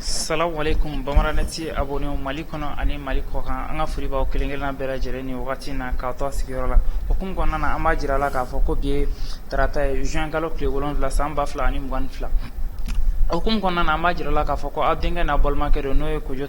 Salamu alekum Bamadanet abonnéw mali kɔnɔ ani mali kɔkan an ka foli b'aw kelen-kelenna bɛɛ lajɛlen ni wagati in na k'aw to aw sigiyɔrɔ la o hukumu kɔnɔna na an b'a jira a la k'a fɔ ko bi ye tarata ye juin kalo tile wolonwula san ba fila ani mugan ni fila o hukumu kɔnɔna na an b'a jira la k'a fɔ ko aw denkɛ n'a balimakɛ don n'o ye Kojo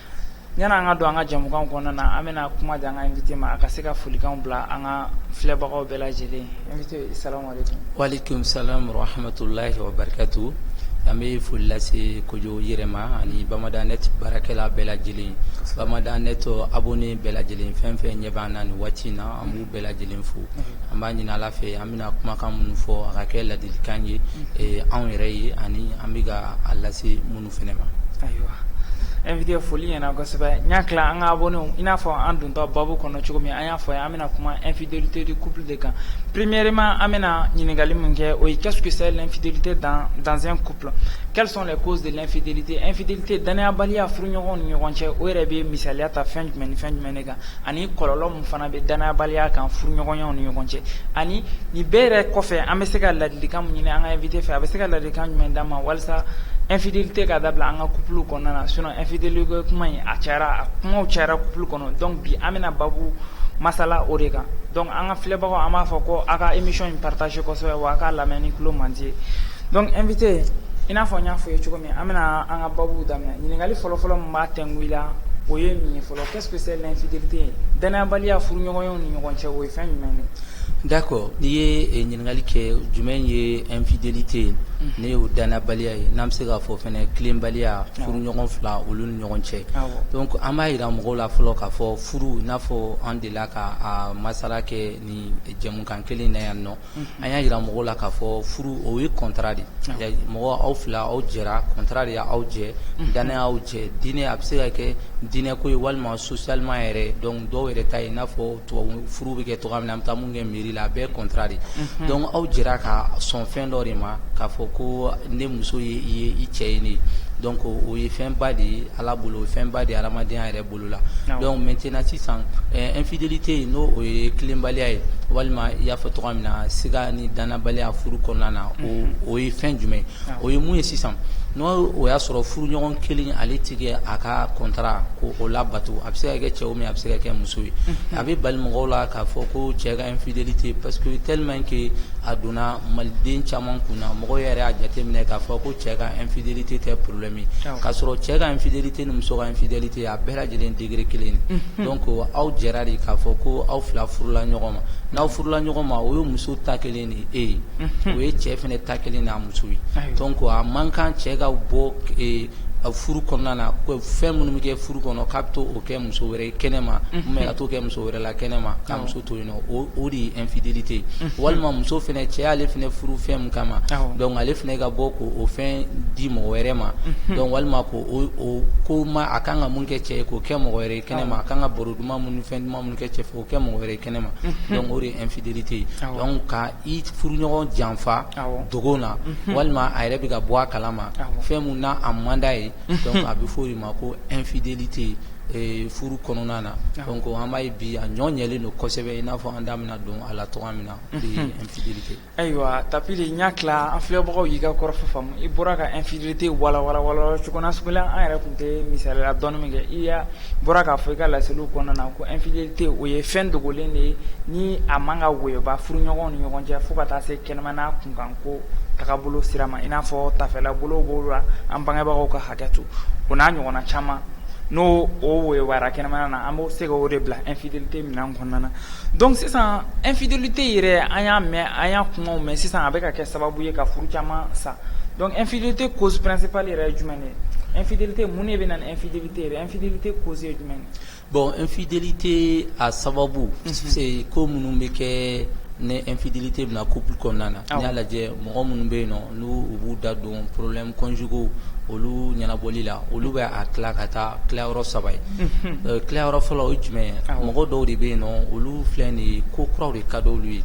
Yan an ka don an ka jɛmukan kɔnɔna na an bɛna kuma di an ka invité ma a ka se ka folikanw bila an ka filɛbagaw bɛɛ lajɛlen wa alekum salam rahamatulayi wa barikatu an bɛ foli lase Kojo yɛrɛ ma ani Bamadanet baarakɛla bɛɛ lajɛlen Bamadanet abonné bɛɛ lajɛlen fɛn fɛn ɲɛ b'an na nin waati in na an b'u bɛɛ lajɛlen fo an b'a ɲini ala fɛ an bɛna kumakan minnu fɔ a ka kɛ ladilikan ye anw yɛrɛ ye ani an bɛ ka a lase minnu fana ma ayiwa invité foli ɲɛna kosɛbɛ n y'a tila an ka abonnés i n'a fɔ an dontɔ baabu kɔnɔ cogo min an y'a fɔ a ye an bɛna kuma infidélité du couple de kan premièrement an bɛna ɲininkali min kɛ o ye qu'est-ce que c'est l'infidélité dans un couple quelles sont les causes de l'infidélité infidélité danayabaliya furuɲɔgɔnw ni ɲɔgɔn cɛ o yɛrɛ bɛ misaliya ta fɛn jumɛn ni fɛn jumɛn de kan ani kɔlɔlɔ min fana bɛ danayabaliya kan furuɲɔgɔnw ni ɲɔgɔn cɛ ani nin bɛɛ yɛrɛ kɔfɛ an bɛ se ka ladilikan ɲini an ka invité fɛ a bɛ se ka ladilikan jumɛn d'an ma walasa infidélité ka dabila an ka couple kɔnɔna na sinon infidélité kuma in a cayara a kuma cayara couple kɔnɔ donc bi an bɛna baabu masala o de kan donc an ka filɛbagaw an b'a fɔ ko aw ka émission in partager kosɛbɛ wa a ka lamɛn ni tulo mandi ye donc invité i n'a fɔ n y'a fɔ ye cogo min an bɛna an ka baabu daminɛ ɲininkali fɔlɔfɔlɔ b'a tɛgla o ye nin fɔlɔ Qu'est-ce que c'est l'infidélité danayabaliya furuɲɔgɔnyaw ni ɲɔgɔn cɛ o ye fɛn jumɛn de ye? d'accord n'i ye ɲininkali kɛ jumɛn ye infidélité ye ne y'o danayabaliya ye n'an bɛ se k'a fɔ fana tilenbaliya furuɲɔgɔn fila olu ni ɲɔgɔn cɛ donc an b'a jira mɔgɔw la fɔlɔ k'a fɔ furu i n'a fɔ an delila ka a masala kɛ nin jɛmukan kelen in na yan nɔ an y'a jira mɔgɔw la k'a fɔ furu o ye contrat de mɔgɔ aw fila aw jɛra contrat de y'aw jɛ danaya y'aw jɛ dinɛ a bɛ se ka kɛ dinɛ ko ye walima socialement yɛrɛ donc dɔw yɛrɛ ta ye i n'a fɔ tubabu furu bɛ kɛ cogo min an bɛ taa minnu kɛ mairie la a bɛɛ contrat de donc aw jɛra ka sɔn fɛn dɔ de ma k'a fɔ ko ne muso ye i ye i cɛ ye donc o ye fɛnba de ye ala bolo o ye fɛnba de ye adamadenya yɛrɛ bɔ bolo la donc maintenant sisan infidélité in n'o o ye tilenbaliya ye walima i y'a fɔ cogoya min na siga ni dannabaliya furu kɔnɔna na o ye fɛn jumɛn ye o ye mun ye sisan n'o o y'a sɔrɔ furuɲɔgɔn kelen ale tɛ ka a ka contrat ko o labato a bɛ se ka kɛ cɛ ye a bɛ se ka kɛ muso ye a bɛ bali mɔgɔw la k'a fɔ ko cɛ ka infidélité parce que tellement que a donna maliden caman kun na mɔgɔw yɛrɛ y'a jateminɛ k'a fɔ ko cɛ ka infidélité tɛ problème ye k'a sɔrɔ cɛ ka infidélité E ni muso ka infidélité a bɛɛ lajɛlen degré kelen de ye donc aw jɛra de k'a fɔ ko aw fila furula ɲɔgɔn ma n'aw furula ɲɔgɔn ma o ye muso ta kelen ni e ye o ye cɛ fana ta kelen n'a muso ye donc a man kan cɛ ka bɔ furu kɔnɔna na fɛn minnu bɛ kɛ furu kɔnɔ k'a bɛ t'o kɛ muso wɛrɛ ye kɛnɛma ou bien ka t'o kɛ muso wɛrɛ la kɛnɛma k'a muso to yen o de ye infidélité walima muso fana cɛ y'ale fana furu fɛn min kama donc ale fana ka bɔ k'o fɛn di mɔgɔ wɛrɛ ma donc walima k'o ko ma a kan ka mun kɛ cɛ ye k'o kɛ mɔgɔ wɛrɛ ye kɛnɛma a kan ka baro duman minnu fɛn duman minnu kɛ cɛ o kɛ mɔgɔ wɛrɛ ye kɛnɛma donc o de ye infidélité ye ka i furuɲɔgɔn janfa dogo na walima a yɛrɛ bɛ ka bɔ a kala ma fɛn min na a man d'a ye a bɛ fɔ o ma ko infidélité furu kɔnɔna na donc an b'a ye bi a ɲɔ ɲɛlen don kosɛbɛ i n'a fɔ an da bɛna don a la cogo min na infidélité ayiwa Tapili n jate la an filɛbagaw y'i ka kɔrɔfɔ faamu i bɔra ka infidélité walawala cogo nasugu la an yɛrɛ tun tɛ misaliya dɔɔni min kɛ i bɔra k'a fɔ i ka laseliw kɔnɔna na ko infidélité o ye fɛn dogolen de ye ni a man ka woyo bɔ furuɲɔgɔnw ni ɲɔgɔn cɛ fo ka taa se kɛnɛmana kunkanko tagabolo sira ma i n'a fɔ tafela bolo la an bangebagaw ka hakɛ to o n'a ɲɔgɔnna caman n'o o woyo wara kɛnɛmana na an bɛ se ka o de bila infidélité minan kɔnɔna na donc sisan infidélité yɛrɛ an y'a mɛn an y'a kumaw mɛn sisan a bɛ ka kɛ sababu ye ka furu caman sa donc infidélité cause principale yɛrɛ ye jumɛn ye infidélité mun de bɛ na ni infidélité yɛrɛ infidélité cause ye jumɛn ye bon infidélité a sababu ko minnu bɛ kɛ ni infidélité bɛ na couple kɔnɔna na n'i y'a lajɛ mɔgɔ minnu bɛ yen nɔ n'u b'u da don problèmes conjugaux olu ɲɛnabɔli la olu bɛ a tila ka taa tilayɔrɔ saba ye tilayɔrɔ fɔlɔ o ye jumɛn ye mɔgɔ dɔw de bɛ yen nɔn olu filɛ de ye ko kuraw de ka di olu ye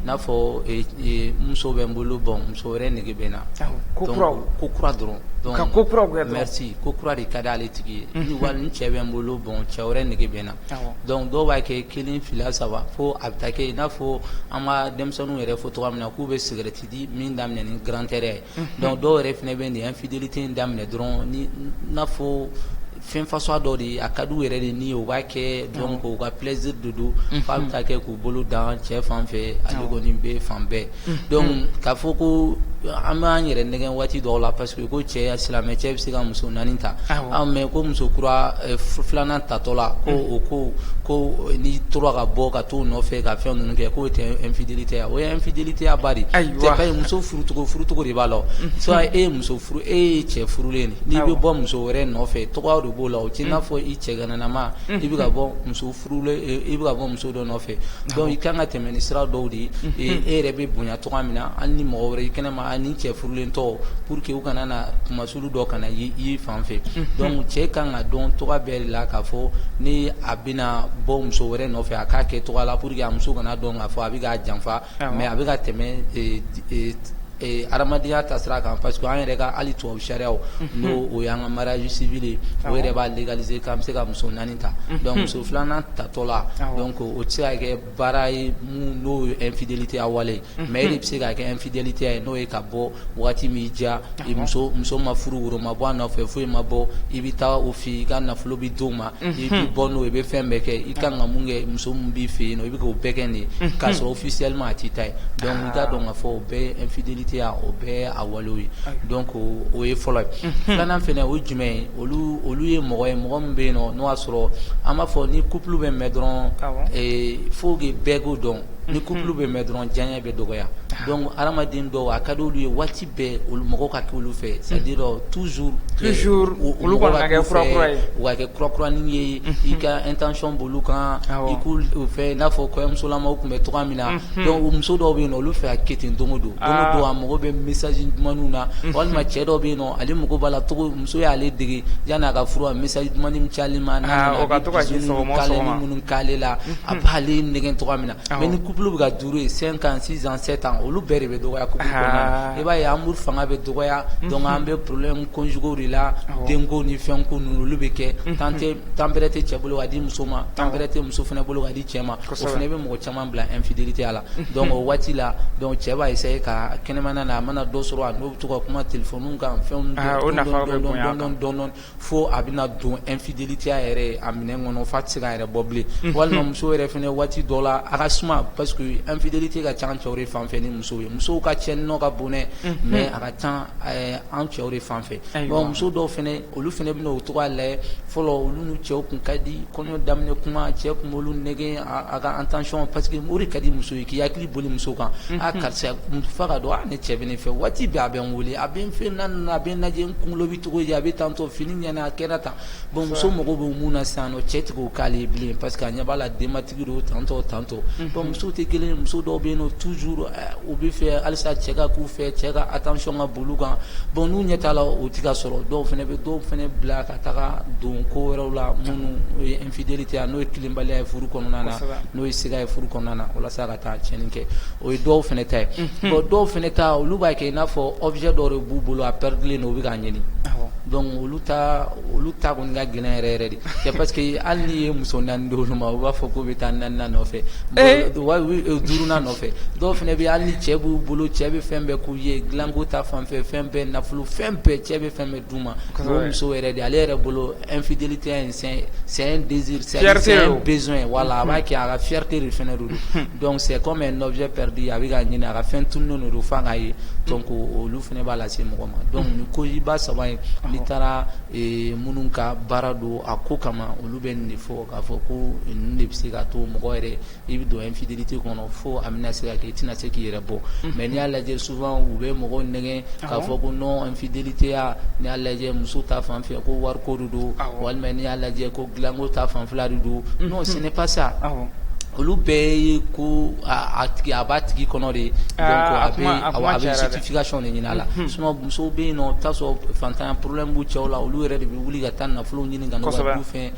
n'a fɔ muso bɛ n bolo bon muso wɛrɛ nege bɛ n na ko ko kura dɔrɔn ko kura mais ko kura de ka di ale tigi ye walima cɛ bɛ n bolo bon cɛ wɛrɛ nege bɛ n na donc dɔw b'a kɛ kelen fila saba fo a bɛ taa kɛ n'a fɔ an ka denmisɛnninw yɛrɛ fɔ cogo min na k'u bɛ cigarette di min daminɛ ni grandeur ye donc dɔw yɛrɛ fana bɛ nin infidélité in daminɛ dɔrɔn n'a fɔ fɛn façon dɔ de ye a ka d'u yɛrɛ de ye o b'a kɛ donc u ka plaisir de don f'a bɛ taa kɛ k'u bolo dan cɛ fan fɛ ale kɔni bɛ fan bɛɛ donc k'a fɔ ko an b'an yɛrɛ nɛgɛn waati dɔw la parce que U ko cɛ silamɛ cɛ bɛ se ka muso naani ta mais ko muso kura filanan tatɔ la ko o ko ko n'i tora ka bɔ ka taa o nɔfɛ ka fɛn ninnu kɛ k'o tɛ infidélité ye o ye infidélitéya ba de ye muso furucogo furucogo de b'a la soit e ye muso furu e ye cɛ furulen n'i bɛ bɔ muso wɛrɛ nɔfɛ cogo de b'o la o t'i n'a fɔ i cɛgananama i bɛ ka bɔ muso furu i bɛ bɔ muso dɔ nɔfɛ donc i kan ka tɛmɛ ni sira dɔw de ye e yɛrɛ bɛ bonya cogo min na hali ni mɔgɔ wɛrɛ i kɛnɛ ma ni cɛ furulen tɔw pour que u kana na kunmasuli dɔ kana i fan fɛ donc cɛ ka kan ka dɔn cogo bɛɛ de la k'a fɔ ni a bɛna bɔ muso wɛrɛ nɔfɛ a k'a kɛ cogo la pour que a muso kana dɔn k'a fɔ a bɛ k'a janfa mais a bɛ ka tɛmɛ Ee hadamadenya ta sira kan parce que an yɛrɛ ka hali tubabu sariya n'o o y'an ka mariage civil ye o yɛrɛ b'a légaliser k'an bɛ se ka muso naani ta donc muso filanan tatɔ la donc o tɛ se ka kɛ baara ye mun n'o ye infidélitéya wale mais e de bɛ se ka kɛ infidélitéya ye n'o ye ka bɔ waati min diya muso ma furu woro ma bɔ a nɔfɛ foyi ma bɔ i bɛ taa o fɛ yen i ka nafolo bɛ d'o ma i bɛ bɔ n'o ye i bɛ fɛn bɛɛ kɛ i ka kan ka mun kɛ muso min b'i fɛ yen i bɛ k'o bɛɛ kɛ nin ye k'a sɔrɔ officiellement a t'i ta ye donc i k'a dɔn k'a fɔ o bɛɛ ye infidélitéya o bɛɛ ye a walew ye donc o ye fɔlɔ ye filanan fana o ye jumɛn ye olu olu ye mɔgɔ ye mɔgɔ min bɛ yen nɔ n'o y'a sɔrɔ an b'a fɔ ni couple bɛ mɛn dɔrɔn il faut que bɛɛ k'o dɔn ni couple bɛ mɛn dɔrɔn diyaɲɛ bɛ dɔgɔya donc hadamaden dɔw a ka d'olu ye waati bɛɛ olu mɔgɔw ka kɛ olu fɛ c'est à dire toujours toujours olu kɔni ka kɛ kura kura ye u ka kɛ kura kuranin ye i ka attention b'olu kan awɔ i k'u fɛ i n'a fɔ kɔɲɔmusolamaw tun bɛ cogoya min na unhun donc o muso dɔw bɛ yen nɔ olu fɛ ka kɛ ten don o don aa don o don a mago bɛ message dumanninw na unhun walima cɛ dɔw bɛ yen nɔ ale mago b'a la cogo muso y'ale dege yanni a ka furu a message dumannin min ci ale ma n'a nana a bɛ bisou ni minnu k'ale la a b'ale nɛgɛn cogoya min na mais ni couple bɛ ka durer cinq ans six ans sept ans olu bɛɛ de bɛ dɔgɔya couple kɔnɔna na i b'a ye amour fanga bɛ dɔgɔya donc an bɛ problème conjugaux de la denko ni fɛn ko ninnu olu bɛ kɛ temps bɛrɛ tɛ cɛ bolo ka di muso ma temps bɛrɛ tɛ muso fana bolo ka di cɛ ma o fana bɛ mɔgɔ caman bila infidélitéya la donc o waati la donc cɛ b'a essayer ka kɛnɛmana na a mana dɔ sɔrɔ a n'o bɛ to ka kuma téléphone kan fɛn fo a bɛna don infidélitéya yɛrɛ a minɛ kɔnɔ f'a tɛ se k'a yɛrɛ bɔ bilen walima muso yɛrɛ fana waati dɔ la a ka suma parce que infidélité ka ca an cɛw de fan fɛ ni muso ye musow ka cɛnni ka bon dɛ mais a ka ca an cɛw de fan fɛ muso dɔw fana olu fana bɛna o cogo lajɛ fɔlɔ olu n'u cɛw tun ka di kɔɲɔ daminɛ kuma cɛ tun b'olu nɛgɛn a ka attention parce que o de ka di muso ye k'i hakili boli muso kan a karisa f'a k'a dɔn ne cɛ bɛ ne fɛ waati bɛɛ a bɛ n wele a bɛ n fɛ na a bɛ n lajɛ n kunkolo Cogo a bɛ tantôt fini ɲɛna a kɛra tan bon muso mago bɛ mun na sisan cɛ tɛ k'o k'ale ye bilen parce que a ɲɛ b'a la denbatigi don tantôt tantôt muso tɛ kelen ye muso dɔw bɛ yen nɔ toujours u bɛ fɛ halisa cɛ ka k'u fɛ cɛ ka attention ka boli u kan bon n'u ɲɛ t'a la o tɛ ka sɔrɔ dɔw fana bɛ dɔw fana bila ka taga don ko wɛrɛw la minnu ye infidélité n'o ye tilenbaliya ye furu kɔnɔna na n'o ye siga ye furu kɔnɔna na walasa Ka tiɲɛni kɛ o ye dɔw fana ta ye bon dɔw fana ta olu b'a kɛ i n'a fɔ objet dɔ de b'u bolo a pɛridilen don u bɛ k'a ɲini donc olu ta olu ta kɔni ka gɛlɛn yɛrɛ yɛrɛ de c'est parce que hali n'i ye muso 4 di olu ma u b'a fɔ k'u bɛ taa 4 nan nɔfɛ donc 5 nan nɔfɛ dɔw fana bɛ yen hali ni cɛ b'u bolo cɛ bɛ fɛn bɛɛ k'u ye dilanko ta fanfɛ fɛn bɛɛ nafolo fɛn bɛɛ cɛ bɛ fɛn bɛɛ muso yɛrɛ de ale yɛrɛ bolo infidélité in c'est un besoin voilà a b'a kɛ a ka fierté de fana don donc c'est comme objet perdu a bɛ k'a ɲini a ka fɛn tununnen de don f'a k'a ye donc olu fana b'a lase mɔgɔ ma donc ko ba saba in n'i taara minnu ka baara don a ko kama olu bɛ nin de fɔ k'a fɔ ko nin de bɛ se ka to mɔgɔ yɛrɛ i bɛ don infidélité kɔnɔ fo a bɛna se ka kɛ i tɛna se k'i yɛrɛ bɔ mais n'i y'a lajɛ souvent u bɛ mɔgɔw nɛgɛn k'a fɔ ko non infidélitéya n'i y'a lajɛ muso ta fan fɛ ko wariko de don walima n'i y'a lajɛ ko dilanko ta fan fɛla de don non c'est pas ça olu bɛɛ ye ko a b'a tigi kɔnɔ de donc a bɛ justification de ɲini a la sinon musow bɛ yen nɔ i bɛ t'a sɔrɔ fantanya problème b'u cɛw la olu yɛrɛ de bɛ wuli ka taa nafolo ɲini ka fɛ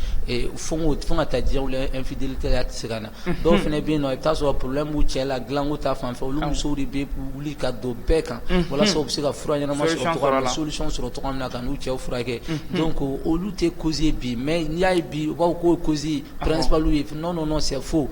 Fo fo ka taa diɲɛ la infidélitéya tɛ se ka na dɔw fana bɛ yen nɔ i bɛ t'a sɔrɔ problème b'u cɛ la dilanko ta fan fɛ olu musow de bɛ wuli ka don bɛɛ kan walasa u bɛ se ka fura ɲɛnama sɔrɔ solution sɔrɔ cogo min na ka n'u cɛw furakɛ donc olu tɛ cause bi mais n'i y'a ye bi u b'a fɔ k'o cause principale ye non c'est faux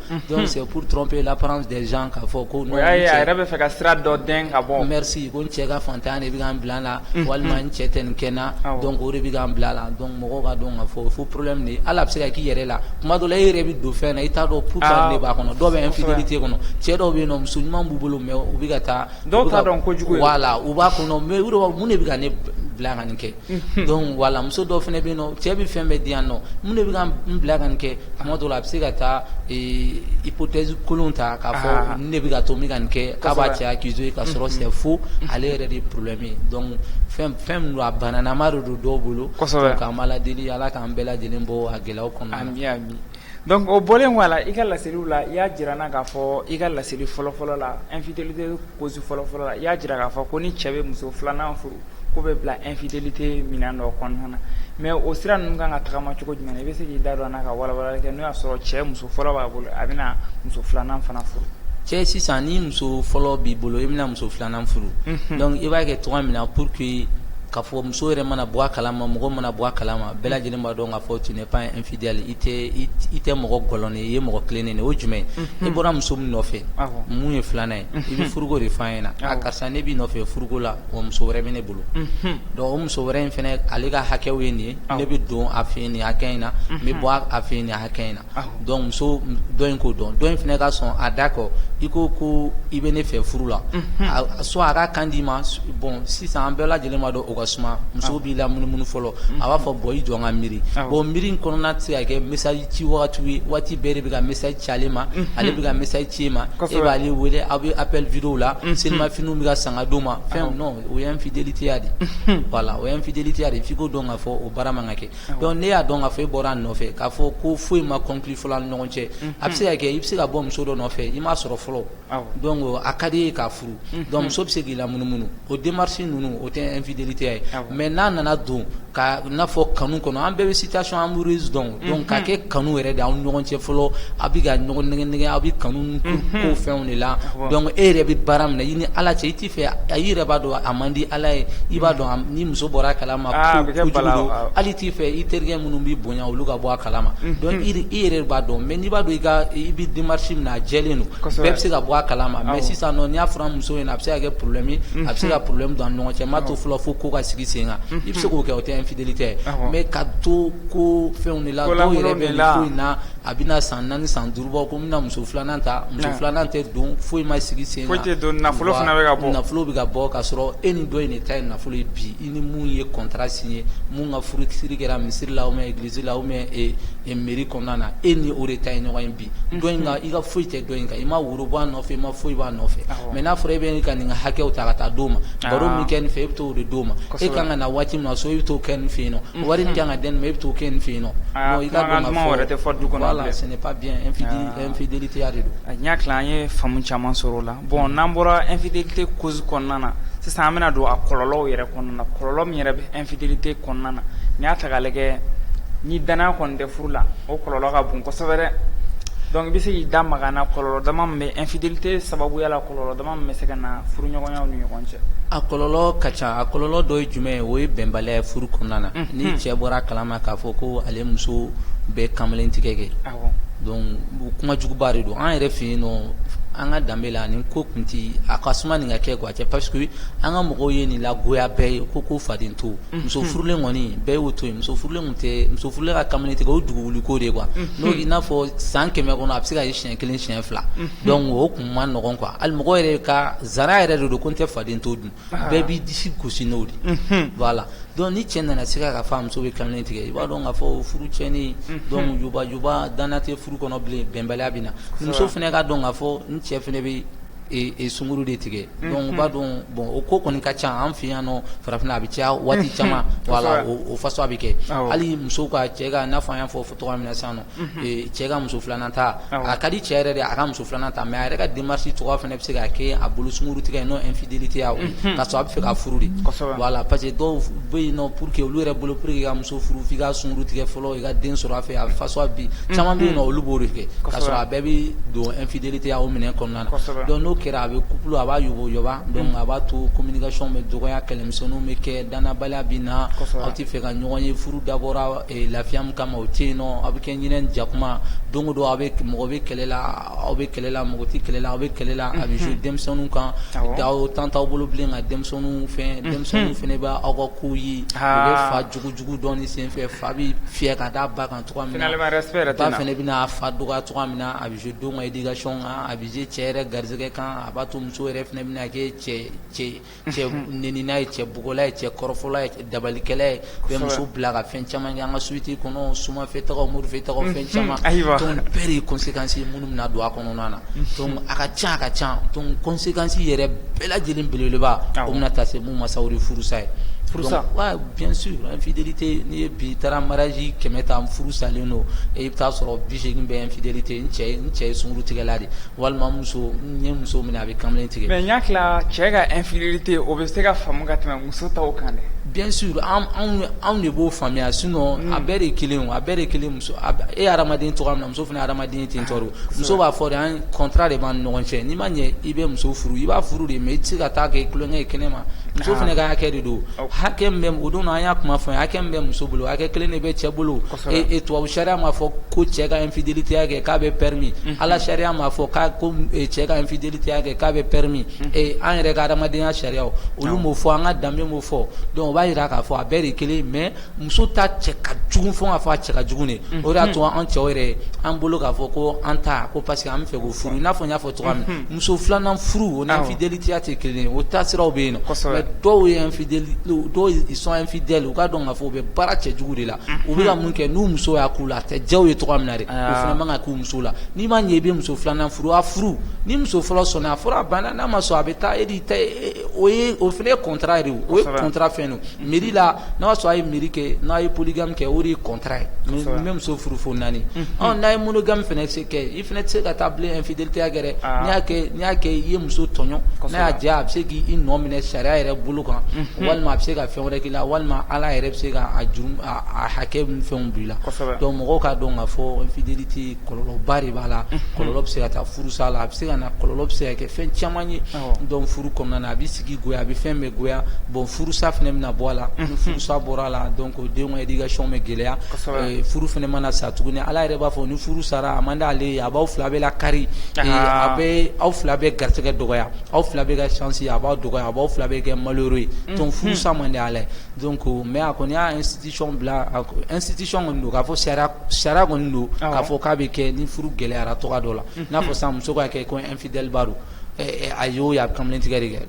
c'est pour tromper l'apparence k'a fɔ ko a yɛrɛ bɛ fɛ ka sira dɔ dɛmɛ ka bɔ n si ko n cɛ ka fantanya de bɛ ka n bila la walima n cɛ tɛ nin kɛ n na donc o de bɛ ka n bila la mɔgɔw k'a dɔn k'a fɔ faux problème de ye hali a bɛ se ka k'i yɛrɛ la tuma dɔ la e yɛrɛ bɛ don fɛn na i t'a dɔn pourquoi de b'a kɔnɔ dɔw bɛ infidélité kɔnɔ cɛ dɔw bɛ yen nɔ muso ɲuman b'u bolo mais u bɛ ka taa dɔw t'a dɔn kojugu ye voilà u b'a kɔnɔ mais u de b'a fɔ mun de bɛ ka ne bila ka nin kɛ donc voilà muso dɔw fana bɛ yen nɔ cɛ bɛ fɛn bɛɛ di yan nɔ mun de bɛ ka n bila ka nin kɛ tuma dɔw la a bɛ se ka taa hypothèse kolon ta k'a fɔ nin de bɛ ka to n bɛ ka nin kɛ k'a b'a cɛ accuser k'a sɔrɔ c'est faux ale yɛrɛ de ye problème ye donc fɛn fɛn min don a bananama de don dɔw bolo donc an b'Ala deli Ala k'an bɛɛ lajɛlen bɔ a gɛlɛyaw kɔnɔna na ami ami donc o bɔlen kɔ a la i ka laseliw la i y'a jira an na k'a fɔ i ka laseli fɔlɔfɔlɔ la infidélité cause fɔlɔfɔlɔ la i y'a jira k'a fɔ ko ni cɛ bɛ muso filanan furu k'o bɛ bila infidélité minɛn dɔ kɔnɔna na mais o sira ninnu kan ka tagama cogo jumɛn na i bɛ se k'i da don an na ka walawalali kɛ n'o y'a sɔrɔ cɛ muso fɔlɔ b'a bolo a bɛna muso filanan fana furu cɛ sisan ni muso fɔlɔ b'i bolo i bɛna muso filanan an furu donc i b'a kɛ tuma min na pour que k'a fɔ muso yɛrɛ mana bɔ a kala ma mɔgɔ mana bɔ a kala ma bɛɛ lajɛlen b'a dɔn k'a fɔ tu n'es pas un infidèle i tɛ mɔgɔ gɔlɔnnen ye i ye mɔgɔ tilennen de ye o ye jumɛn ye i bɔra muso min nɔfɛ min ye filanan ye i bɛ furuko de f'a ɲɛna a karisa ne b'i nɔfɛ furuko la wa muso wɛrɛ bɛ ne bolo donc o muso wɛrɛ in fana ale ka hakɛw ye nin ye ne bɛ don a fɛ yen nin hakɛ in na n bɛ bɔ a fɛ yen nin hakɛ in na in k'o dɔn dɔ in fana ka sɔn a d'accord i ko ko i bɛ ne fɛ furu la soit a ka kan d'i ma bon sisan an bɛɛ lajɛlen b'a dɔn o ka suma muso b'i la munumunu fɔlɔ a b'a fɔ bon i jɔ n ka miiri bon miiri in kɔnɔna tɛ se ka kɛ message ci waati ye waati bɛɛ de bɛ ka message ci ale ma ale bɛ ka message ci e ma e b'ale wele aw bɛ appel vidéo la selimafiniw bɛ ka san ka d'o ma fɛn o ye infidélité ya de voilà o ye infidélité ya de f'i k'o dɔn k'a fɔ o baara man ka kɛ Donc ne y'a dɔn k'a fɔ e bɔra a nɔfɛ k'a fɔ ko foyi ma conclure fɔlɔ an ni ɲɔgɔn cɛ a bɛ se ka kɛ i bɛ se ka bɔ muso dɔ nɔfɛ i m'a sɔrɔ fɔlɔ donc a ka d'i ye k'a furu donc muso bɛ se k'i la munumunu o démarche ninnu o tɛ infidélité ye mais n'a nana don ka n'a fɔ kanu kɔnɔ an bɛɛ bɛ situation amoureuse dɔn ka kɛ kanu yɛrɛ de aw ni ɲɔgɔn cɛ fɔlɔ a bɛ ka ɲɔgɔn nɛgɛ aw bɛ kanu fɛnw de la e yɛrɛ bɛ baara min na i ni ala cɛ i A i yɛrɛ b'a dɔn a man di ala ye i b'a dɔn ni muso bɔra a kalama hali t'i fɛ i terikɛ minnu b'i bonya olu ka bɔ a kalama donc i yɛrɛ b'a dɔn mais n'i b'a dɔn i i bɛ démarche min na a jɛlen don bɛɛ bɛ se ka bɔ a kalama mais sisan nɔ n'i y'a fɔ a muso ye a bɛ se ka kɛ problème ye a bɛ se ka problème don an ni ɲɔgɔn cɛ n b'a to fɔlɔ fo ko ka sigi sen kan i bɛ se k'o kɛ o tɛ infidélité mais ka to ko fɛnw de la dɔw yɛrɛ bɛ nin ko in na a bɛna san naani san duuru Bɔ ko n bɛna muso filanan ta muso filanan tɛ don foyi ma sigi sen kan foyi tɛ don nafolo fana bɛ ka bɔ nafolo bɛ ka bɔ k'a sɔrɔ e ni dɔ in de ta ye nafolo ye bi i ni min ye contrat signé min ka furusiri kɛra misiri la ou bien église la ou bien mairie kɔnɔna na e ni o de ta ye ɲɔgɔn ye bi dɔ in i ka foyi tɛ dɔ in kan i ma woro bɔ a nɔfɛ i ma foyi b'a nɔfɛ mais n'a fɔra e bɛ ka nin ka hakɛw ta ka taa d'o ma baro min kɛ nin fɛ e bɛ taa o de d'o ma e ka kan ka na waati min na so e bɛ t'o kɛ nin fɛ yen Wari ka ka den e bɛ taa o kɛ nin fɛ yen nɔ i ka wɛrɛ tɛ du kɔnɔ ce n'est pas bien infidélité ya de don a y'a tila an ye faamumu caman sɔrɔ o la bon n'an bɔra infidélité cause kɔnɔna na sisan an bɛna don a kɔlɔlɔw yɛrɛ kɔnɔna na kɔlɔlɔ min yɛrɛ bɛ infidélité kɔnɔna na n'i y'a ta k'a lajɛ ni danaya kɔni tɛ furu la o kɔlɔlɔ ka bon kosɛbɛ dɛ donc i bɛ se k'i da maga na kɔlɔlɔ dama min bɛ infidélité sababuya la kɔlɔn bɛ se ka na furuɲɔgɔnyaw ni ɲɔgɔn cɛ a kɔlɔlɔ ka ca a kɔlɔlɔ dɔ ye jumɛn ye o ye bɛnbaliya ye furu kɔnɔna na ni cɛ bɔra a kalama k'a fɔ ko ale muso bɛ kamalen tigɛ kɛ donc kuma juguba de don an yɛrɛ fɛ yen nɔ an ka danbe la nin ko kun tɛ a ka suma nin ka kɛ a cɛ parce que an ka mɔgɔw ye nin lagoya bɛɛ ye ko ko faden to muso furulen kɔni bɛɛ y'o to muso furulen tɛ muso furulen ka kamalen tigɛ o dugu wuli ko de quoi n'o n'a fɔ san kɛmɛ kɔnɔ a bɛ se ka ye siɲɛ kelen siɲɛ fila donc o Man nɔgɔn quoi hali mɔgɔ yɛrɛ ka zana yɛrɛ de don ko n tɛ faden to dun bɛɛ b'i disi gosi n'o de voilà donc ni cɛ nana se k'a f'a muso bɛ kamalen tigɛ i b'a dɔn k'a fɔ furu tiɲɛnen don jubajuba danna tɛ furu kɔnɔ bilen bɛnbaliya bɛ na muso fana k'a dɔn k'a fɔ n cɛ fana bɛ sunkuru de tigɛ donc b'a dɔn bon o ko kɔni ka ca an fɛ yan nɔ farafinna a bɛ caya waati caman o façon a bɛ kɛ hali muso ka cɛ n'a fɔ an y'a fɔ fɔ cogo min na sa nɔ cɛ ka muso filanan ta a ka di cɛ yɛrɛ de a ka muso filanan ta mais a yɛrɛ ka démarche cogo fana bɛ se ka kɛ a bolo sunkuru tigɛ n'o infidélité ya k'a sɔrɔ a bɛ fɛ ka furu de voilà parce que dɔw bɛ yen nɔ pour que olu yɛrɛ bolo pour que ka muso furu i ka sunkuru tigɛ fɔlɔ i ka den sɔrɔ a fɛ a façon bi caman bɛ yen nɔ olu b'o de kɛ k'a sɔrɔ a bɛɛ bɛ don infidélité ya domaine kɔnɔna na donc n'o kɛra a bɛ couple a b'a yɔgɔba donc a b'a to communication bɛ dɔgɔya kɛlɛmisɛn bɛ kɛ dannabaliya bɛ na aw tɛ fɛ ka ɲɔgɔn ye furu dabɔ lafiya min kama o tɛ yen nɔ aw bɛ kɛ ɲinɛ jakuma don o don aw bɛ mɔgɔ bɛ kɛlɛ la aw bɛ kɛlɛ la mɔgɔ tɛ kɛlɛ la aw bɛ kɛlɛ la a bɛ jouer denmisɛnninw kan aw temps t'aw bolo bilen ka denmisɛnninw fɛn denmisɛnninw fana bɛ aw ka kow ye u bɛ fa jugu jugu dɔn nin senfɛ fa bɛ fiyɛ ka da ba kan cogoya min na finalement respect yɛrɛ tɛ na ba fana bɛna a fa dɔgɔya cogoya min na a bɛ jouer denw ka éducation kan a bɛ jouer cɛ yɛrɛ garisɛgɛ kan a b'a to muso yɛrɛ fana bɛna kɛ cɛ cɛ Cɛ nenina ye cɛ bugɔla ye cɛ kɔrɔfɔla ye dabalikɛla ye bɛ muso bila ka fɛn caman kɛ an ka société kɔnɔ somafɛtaga morifɛtaga fɛn caman ayiwa bɛɛ de conséquence minnu bɛna don a kɔnɔna na a ka ca a ka ca conséquence yɛrɛ bɛɛ lajɛlen belebeleba o bɛna taa se mun ma sa furusa ye furusa infidélité n'i ye bi taara mariage kɛmɛ ta furu salen don i bɛ taa a sɔrɔ biseegin bɛ infidélité cɛ cɛ ye sunkuru tigɛla de Walima muso ye muso min a bɛ kamalen tigɛ mais ɲa cɛ ka infidélité o bɛ se ka faamu ka tɛmɛ muso ta kan dɛ bien sûr anw de b'o faamuya sinon a bɛɛ de kelen a bɛɛ de kelen e hadamaden cogo min muso fana hadamaden ten donc muso b'a fɔ de an contrat de b'an ni ɲɔgɔn cɛ n'i ma ɲɛ i bɛ muso furu i b'a furu de mais i tɛ se ka taa kɛ tulonkɛ ye kɛnɛ ma muso fana ka hakɛ de don hakɛ bɛ o don an y'a kuma fɔ hakɛ min bɛ muso bolo hakɛ kelen de bɛ cɛ bolo E tubabu sariya m'a fɔ ko cɛ ka infidélité ya kɛ k'a bɛ permis ala sariya m'a fɔ k' ko cɛ ka infidélité ya kɛ k'a bɛ permis ee an yɛrɛ ka adamadenya sariya olu m'o fɔ an ka danbe m'o fɔ donc o b'a jira k'a fɔ a bɛɛ de kelen mais muso ta cɛ ka jugu fɔ k'a fɔ a cɛ ka jugu de o y'a to an cɛw yɛrɛ an bolo k'a fɔ ko an ta ko parce que an bɛ fɛ k'o furu i n'a fɔ n y'a fɔ cogoya min muso filanan furu o ni infidélité ya tɛ kelen o taasiraw bɛ yen dɔw ye dɔw sont infidèles u k'a dɔn k'a fɔ u bɛ baara cɛjugu de la u bɛ ka min kɛ n'u muso y'a k'u la a tɛ diya u ye cogo min na de fana man ka k'u muso la n'i ma ɲɛ i bɛ muso filanan furu a furu ni muso fɔlɔ sɔnna a fɔra banna n'a ma sɔn a bɛ taa e ta o ye o fana contrat de o ye contrat fɛn don mairie la n'a y'a sɔrɔ a ye mairie kɛ n'a ye polygame kɛ o de ye contrat ye n bɛ muso furu fo naani n'a ye monogame fana se kɛ I fana tɛ se ka taa bilen infidélité ya kɛ dɛ, aa, n'i y'a kɛ i ye muso tɔɲɔn, kosɛbɛ, n'a y'a diya a bɛ se k'i nɔ minɛ sariya yɛrɛ bolo kan, unhun, walima a bɛ se ka fɛn wɛrɛ k'i la walima Ala yɛrɛ bɛ se ka a juru a hakɛ ni fɛnw bɔ i la, kosɛbɛ, donc mɔgɔw k'a dɔn k'a fɔ infidélité kɔlɔlɔba de b'a la, unhun, kɔlɔlɔ bɛ se ka taa furusa la, a bɛ se ka na kɔlɔlɔ bɛ se ka kɛ fɛn caman ye, awɔ, donc furu kɔnɔna na a bɛ sigi goya a bɛ fɛn bɛɛ goya bon furusa fana bɛna bɔ a la, unhun, ni furusa bɔra a la donc Donc denw ka éducation bɛ gɛlɛya furu fana mana sa tuguni ala yɛrɛ b'a fɔ ni furu sara a man d'ale ye a b'aw fila bɛɛ lakari a bɛ aw fila bɛɛ garisɛgɛ dɔgɔya aw fila bɛɛ ka chance a b'a dɔgɔya a b'aw fila bɛɛ kɛ malheureux ye donc furusa man di ala ye donc mais a kɔni y'a institution bila institution kɔni don k'a fɔ sariya sariya kɔni don k'a fɔ k'a bɛ kɛ ni furu gɛlɛyara cogoya dɔ la n'a fɔ sisan muso b'a kɛ ko infidèle ba don a y'o ye a bɛ kamalen tigɛ de kɛ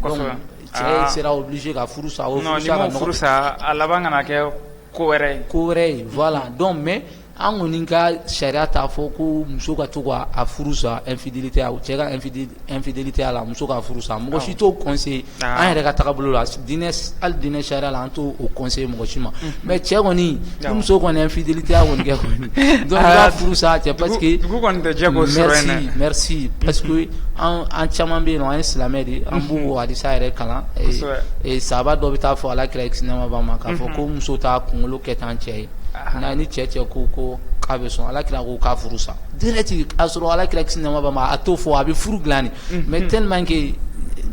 Cɛ sera obligé ka furu sa, non n'i ma furu sa a laban kana kɛ ko wɛrɛ ye, ko wɛrɛ ye voilà donc mais an kɔni ka sariya t'a fɔ ko muso ka to ka a furu sa infidélité a cɛ ka infidélité a la muso ka furu sa mɔgɔ si t'o conseiller an yɛrɛ ka taabolo la diinɛ hali diinɛ sariya la an t'o conseiller mɔgɔ si ma mais cɛ kɔni Ni muso kɔni ye infidélité kɔni kɛ kɔni furu sa cɛ parce que merci parce que an caman bɛ yen an ye silamɛ de an b'o hadisa yɛrɛ kalan sahaba dɔ bɛ taa fɔ ala kira kisi nɛɛma b'a ma k'a fɔ ko muso t'a kunkolo kɛ tan cɛ ye nka ni cɛ cɛ ko ko k'a bɛ sɔn ala kira ko k'a furu sa direct k'a sɔrɔ ala kira kisi nɛɛma b'a ma a t'o fɔ a bɛ furu dilan de mais tellement que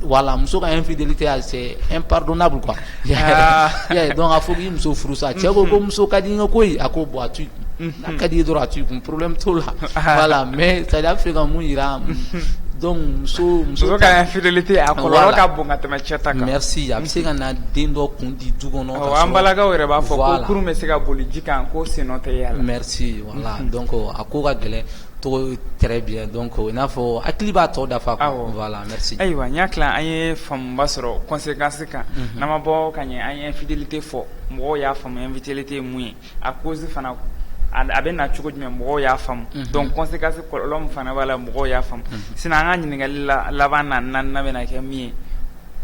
voilà muso ka infidélité c'est impardonnable quoi a fɔ k'i muso furu sa cɛ ko ko muso ka di n ye koyi a ko bon a to i kun n'a ka di i ye dɔrɔn a to i kun problème t'o la voilà mais c'est à dire a bɛ fɛ ka mun jira donc muso ka infidélité a kɔlɔlɔ ka bon ka tɛmɛ cɛ ta kan merci a bɛ se ka na den dɔ kun di du kɔnɔ an balakaw yɛrɛ b'a fɔ kurun bɛ se ka boli ji kan ko sen tɛ ye voilà donc a ko ka gɛlɛn d'accord très bien donc i n'a fɔ hakili b'a tɔ dafa quoi, awɔ, voilà merci ayiwa n y'a tila an ye faamuba sɔrɔ conséquence kan, unhun, n'an ma bɔ ka ɲɛ an ye infidélité fɔ mɔgɔw y'a faamu infidélité ye mun ye a cause fana a bɛ na cogo jumɛn mɔgɔw y'a faamu, unhun, donc conséquence kɔlɔlɔ min fana b'a la mɔgɔw y'a faamu, unhun, sinon an ka ɲininkali laban na naaninan bɛna kɛ min ye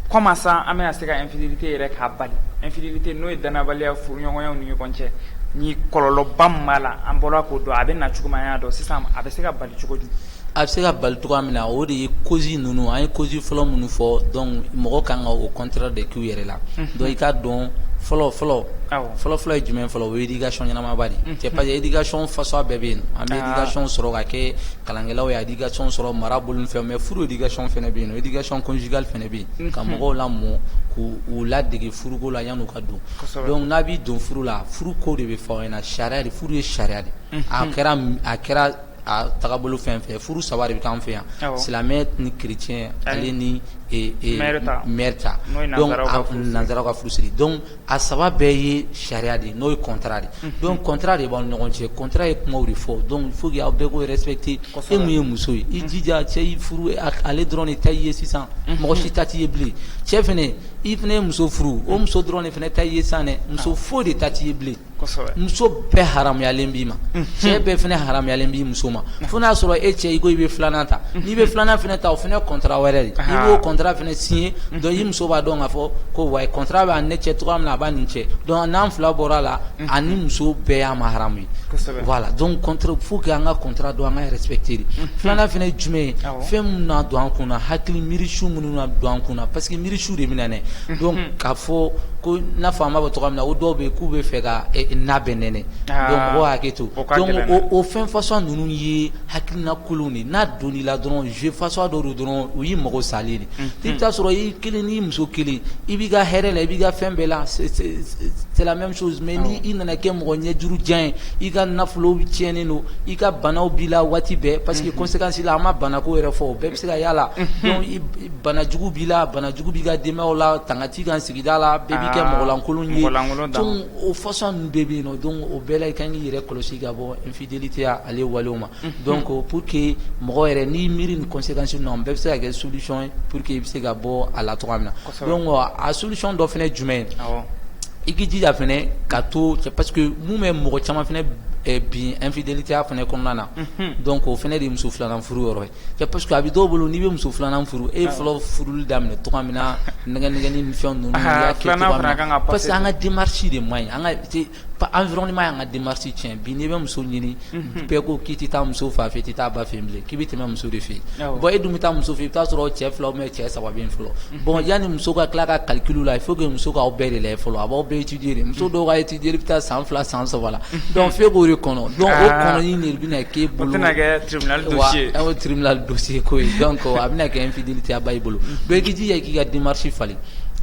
comment ça an bɛna se ka infidélité yɛrɛ k'a bali infidélité n'o ye danabaliya furuɲɔgɔnyaw ni ɲɔgɔn cɛ ni kɔlɔlɔba min b'a la an bɔra k'o dɔn a bɛ na cogo min an y'a dɔn sisan a bɛ se ka bali cogo di a bɛ se ka bali cogoya min na o de ye cause ninnu an ye cause fɔlɔ minnu fɔ donc mɔgɔ kan ka o contraire de k'u yɛrɛ la donc i k'a dɔn fɔlɔ fɔlɔ fɔlɔ fɔlɔ ye jumɛn fɔlɔ o ye éducation ɲɛnamaba de ye c'est parce que éducation fasuguya bɛɛ bɛ yen an bɛ éducation sɔrɔ ka kɛ kalankɛlaw ye éducation sɔrɔ mara bolo ni fɛnw mais furu éducation fana bɛ yen éducation conjugale fana bɛ yen ka mɔgɔw lamɔ k'u ladege furuko la yanni u ka don donc n'a b'i don furu la furu ko de bɛ fɔ aw ɲɛna sariya de furu ye sariya de ye a kɛra a kɛra a tagabolo fɛn o fɛn ye furu saba de bɛ kɛ anw fɛ yan silamɛ ni chrétien ale ni mɛri ta donc nanzaraw ka furusiri a saba bɛɛ ye sariya de n'o ye contrat de donc contrat de b'aw ɲɔgɔn cɛ contrat ye kumaw de fɔ donc il faut que aw bɛɛ k'o respecter e min ye muso ye i jija cɛ y'i furu ale dɔrɔn de ta i ye sisan mɔgɔ si ta t'i ye bilen cɛ fana i fana ye muso furu o muso dɔrɔn de fana ta i ye sisan dɛ muso foyi de ta t'i ye bilen Muso bɛɛ haramuyalen b'i ma cɛ bɛɛ fana haramuyalen b'i muso ma fo n'a sɔrɔ e cɛ i ko i bɛ filanan ta n'i bɛ filanan fana ta o fana contrat wɛrɛ de i b'o contrat fana signé muso b'a dɔn k'a fɔ ko wa contrat bɛ ne cɛ cogoya min na a b'a nin cɛ n'an fila bɔra a la ani muso bɛɛ y'a ma haramu ye voilà donc fo an ka contrat dɔn an k'a respecter de filanan fana ye jumɛn ye fɛn minnu na don an kun na hakili miirisu minnu don an kun na parce que miirisiw de bɛ don k'a fɔ ko n'a fɔ an b'a fɔ cogo min na o dɔw bɛ yen k'u b'a fɛ ka n'a bɛɛ nɛnɛ hakɛ to o fɛn façon ninnu ye hakilina kolonw de n'a donn'i la dɔrɔn jeu façon dɔ dɔrɔn o y'i mago sa de i bɛ t'a sɔrɔ i kelen n'i muso kelen i b'i ka hɛrɛ la i b'i ka fɛn bɛɛ la mais n'i nana kɛ mɔgɔ ɲɛjuru jan ye i ka nafolo tiɲɛnen don i ka banaw b'i la waati bɛɛ parce que conséquence la an ma banako yɛrɛ fɔ Se ka y'a la donc i b bana jugu b'i la bana jugu b'i ka denbayaw la tanga t'i kan sigida la aa bɛɛ b'i kɛ mɔgɔ lankolon ye mɔgɔ lankolon dan donc o façon ninnu bɛɛ be yen nɔ donc o bɛɛ la i kaan k'i yɛrɛ kɔlɔsi ka bɔɔ infidélité a ale walew ma unhun donc pour que mɔgɔ yɛrɛ n'i y'i miiri nin conséquence ninnu na nin bɛɛ be se ka kɛ solution ye pour que i be se ka bɔɔ a la cogoya min na kɔsɛbɛ donc a solution dɔ fɛnɛ ye jumɛn ye awɔ i k'i jija fɛnɛ ka to cɛ parce que mun bɛ mɔgɔ caman fɛnɛ bin infidélité ya fɛnɛ kɔnɔna na unhun donc o fɛnɛ de ye muso 2 nan furu yɔrɔ ye Cɛ parce que a bɛ dɔw bolo n'i bɛ muso filanan furu e ye fɔlɔ furuli daminɛ cogo min na nɛgɛnɛgɛnni ni fɛn ninnu parce que an ka démarche de man ɲi an ka environnement y'an ka démarche cɛn bi n'i bɛ muso ɲini bɛɛ ko k'i tɛ taa muso fa fɛ i tɛ taa ba fɛ bilen k'i bɛ tɛmɛ muso de fɛ bon e dun bɛ taa muso fɛ i bɛ t'a sɔrɔ cɛ fila bɛ cɛ saba bɛ yen fɔlɔ Bon yanni muso ka tila a ka calcul la fo muso k'aw bɛɛ de lajɛ fɔlɔ a b'aw bɛɛ étudier de muso dɔw ka étude bɛ taa san fila san saba la donc f'e k'o de kɔnɔ donc o kɔnɔni de bɛna k'e bolo tribunal dossier ko ye donc a bɛna kɛ infidélité ya ba i bolo i k'i jija k'i ka démarche falen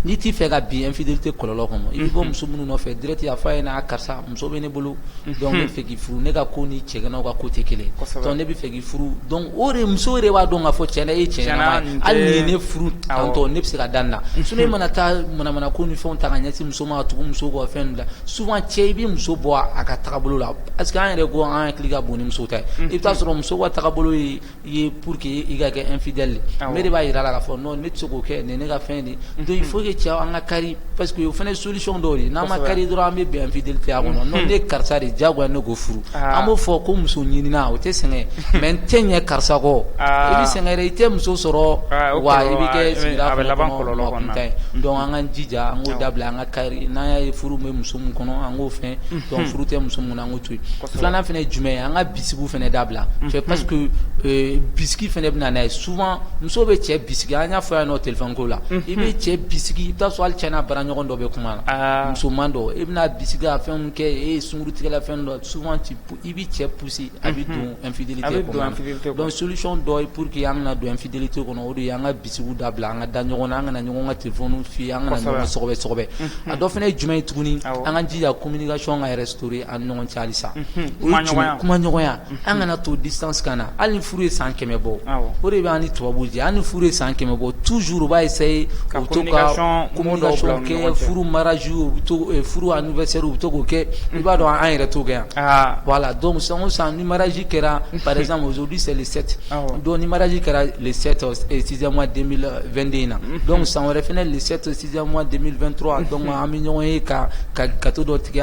n'i t'i fɛ ka bin infidélité kɔlɔn kɔnɔ i bɛ bɔ muso minnu nɔfɛ direct a fɔ a ɲɛna karisa muso bɛ ne bolo donc ne bɛ fɛ k'i furu ne ka ko ni cɛganaw ka ko tɛ kelen ne bɛ fɛ furu donc o de muso yɛrɛ b'a dɔn k'a fɔ cɛn na e ye cɛ ɲɛnama ye hali n'i ye ne furu tantɔn ne bɛ se ka da nin na sinon e mana taa manamana ko ni fɛnw ta ka ɲɛsin muso ma ka tugu muso kɔ fɛn la souvent cɛ i bɛ muso bɔ a ka tagabolo la parce que an yɛrɛ ko an hakili ka bon ni muso ta ye i bɛ taa sɔrɔ muso ka tagabolo ye ye pour que i ka kɛ infidèle mais e de b'a jira a la k'a fɔ ne tɛ se k'o kɛ nin ne ka fɛn donc il faut que cɛ an ka kari parce que o fana ye solution dɔw ye n'an ma kari dɔrɔn an bɛ bin infidélité kɔnɔ non ne karisa de diyagoya ne k'o furu an b'o fɔ ko muso ɲinina o tɛ sɛgɛn mais n tɛ ɲɛ karisa kɔ i bɛ sɛgɛn i tɛ muso sɔrɔ wa i bɛ kɛ a bɛ laban donc an ka jija an k'o dabila an ka kari n'an y'a ye furu bɛ muso min kɔnɔ an k'o fɛ furu tɛ muso kun an Filanan fana jumɛn ye an ka bi fana da bila cɛ pa bi fana bɛ na' ye su muso bɛ cɛ bisimila an y'a fɔ yan n'o tɛ ko la i bɛ cɛ bisimila i taa so ali ti n'a bara ɲɔgɔn dɔ bɛ kuma na musoman dɔn i bɛna bisimila fɛn kɛ e ye sunkuru tigɛla fɛn dɔ su i bɛ cɛ psi a bɛ donfi solisi dɔ ye pur que y' ka donfi kɔnɔ o an bisimila da bila an ka da ɲɔgɔn an kana ɲɔgɔn ka tɛ f fi an ka a dɔ fana ye jumɛn ye tuguni an ka jija ko mini ka sɔn ka yɛrɛ s an ɲɔgɔn cali sa kuma ɲɔgɔnya an kana to di san san na hali furu ye san kɛmɛ bɔ o de bɛ ni tubabu jɛ an ni furu ye san kɛmɛ bɔ tuuruuruba ye seyi ka to ka ko kɛ furu maraj u bɛ furu an fɛ se u bɛ to k'o kɛ i b'a dɔn an yɛrɛ to kɛ yan wala don san san ni maraji kɛra paz mɔ selieli sete Donc ni mariage kɛra le sept sixième mois deux mille vingt-deux na donc san wɛrɛ fana le sept sixième mois deux mille vingt-trois donc an bɛ ɲɔgɔn ye ka ka gato dɔ tigɛ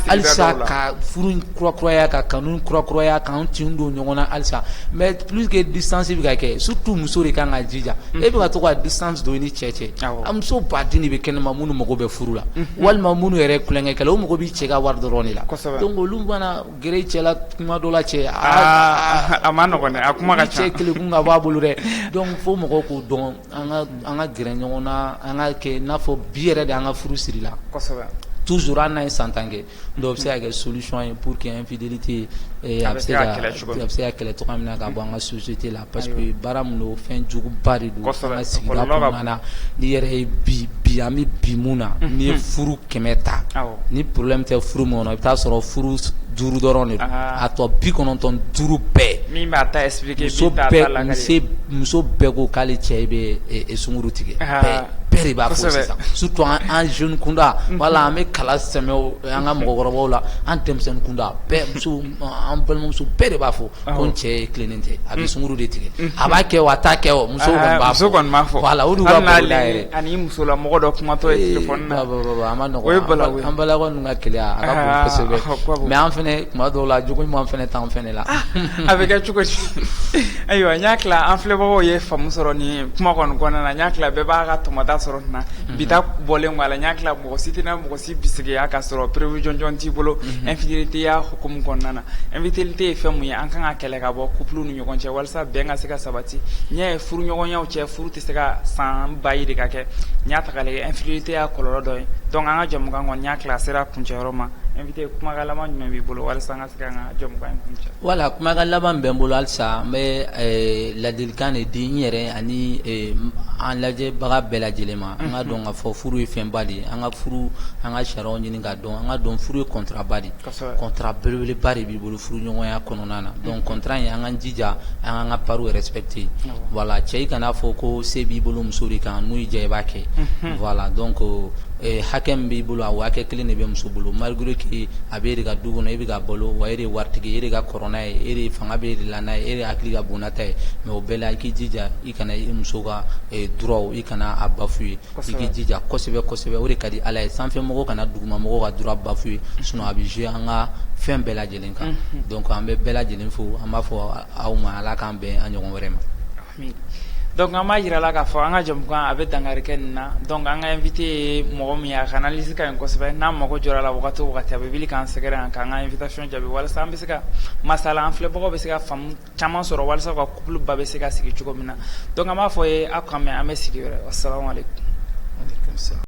halisa ka furu kurakuraya ka kanu kurakuraya k'an tin don ɲɔgɔn na halisa mais puisque distance bɛ ka kɛ surtout muso de kan ka jija e bɛ to ka distance don i ni cɛ cɛ an muso baden de bɛ kɛnɛ ma minnu mago bɛ furu la walima minnu yɛrɛ kukɛ kɛ o mago bɛ cɛ ka wari dɔrɔn de la Gɛrɛ i cɛ la kuma dɔ la cɛ aa a man nɔgɔ a kuma ka cɛ kɛlɛku ka b'a bolo dɛ donc fo mɔgɔw k'o dɔn an ka gɛrɛ ɲɔgɔn na an ka kɛ n'a fɔ bi yɛrɛ de an ka furu sirila toujours hali n'a ye san tan kɛ donc o bɛ se ka kɛ solution ye pour que infidélité a bɛ se ka kɛlɛ cogoya min na ka bɔ an ka société la Parce que baara min don fɛn juguba de don an ka sigida kɔnɔna na n'i yɛrɛ ye bi an bɛ bi min na n'i ye furu kɛmɛ ta ni problème tɛ furu min kɔnɔ i bɛ taa sɔrɔ furu duuru dɔrɔn de a tɔ bi kɔnɔntɔn duuru bɛɛ muso bɛɛ ko k'ale cɛ i bɛ sunkuru tigɛ bɛɛ de b'a fɔ surtout an jeune kunda wala an bɛ kala sɛmɛ an ka mɔgɔkɔrɔbaw la an denmisɛnnin kunda muso an balimamuso bɛɛ de b'a fɔ ko cɛ ye tilennen tɛ a bɛ sunkuru de tigɛ a b'a kɛ a ta kɛ muso musola mɔgɔ dɔ kumatɔ mɛ an fana kuma dɔw la jugu ɲuman fana tan fana la a bɛ kɛ cogo ayiwa n y'a tila an filɛbagaw ye fa sɔrɔ ni kuma na n y' tila bɛɛ b'a ka tɔmɔta sɔrɔ na bi bɔlen la n y' tila mɔgɔ si tɛna mɔgɔ tɛ bisigiya ka sɔrɔ preuve jɔnjɔn t'i bolo infidélité ya hukumu kɔnɔna na infidélité ye fɛn mun ye an kan ka kɛlɛ ka bɔ couple ni ɲɔgɔn cɛ walasa bɛn ka se ka sabati n y'a ye furuɲɔgɔnyaw cɛ furu tɛ se ka san ba yirika kɛ n y'a taga lajɛ infidélité ya kɔlɔlɔ dɔ ye donc an ka jamukan kɔni y'a tila a sera kuncɛyɔrɔ ma invité kumakan laban jumɛn b'i bolo walasa Voilà kumakan laban bɛ n bolo halisa n bɛ ladilikan de di n yɛrɛ ani an lajɛbaga bɛɛ lajɛlen ma an ka dɔn ka fɔ furu ye fɛnba de ye an ka furu an ka sariya ɲini ka dɔn an ka dɔn furu ye contrat ba de contrat belebeleba de b'i bolo furuɲɔgɔnya kɔnɔna na donc contrat in an ka jija an ka an ka part respecter yen voilà cɛ i kana a fɔ ko se b'i bolo muso de kan min y'i diya i b'a kɛ voilà donc hakɛ min b'i bolo a hakɛ kelen de bɛ muso bolo malgré que a bɛ e ka du kɔnɔ e bɛ k'a balo wa e de ye waritigi e de ka kɔrɔ n'a ye e fanga bɛ e de la e de hakili ka bon n'a ta ye mais o bɛɛ la i k'i jija i kana i muso ka droit i kana a bafouer i k'i jija kosɛbɛ kosɛbɛ o de ka di ala ye sanfɛmɔgɔ kana dugumamɔgɔ ka droit bafouer sinon a bɛ jouer an ka fɛn bɛɛ lajɛlen kan donc an bɛ bɛɛ lajɛlen fo an b'a fɔ aw ma ala k'an bɛn an ɲɔgɔn wɛrɛ ma Donc an b'a jira la k'a fɔ an ka jamukan a bɛ dankari kɛ nin na donc an ka invité ye mɔgɔ min ye a ka analyse ka ɲi kosɛbɛ n'an mago jɔra a la waati o waati a bɛ wuli k'an sɛgɛrɛ yan k'an ka invitation jaabi walasa an bɛ se ka masala an filɛbagaw bɛ se ka faamu caman sɔrɔ walasa u ka couple ba bɛ se ka sigi cogo min na donc an b'a fɔ ye aw k'an mɛn an bɛ sigi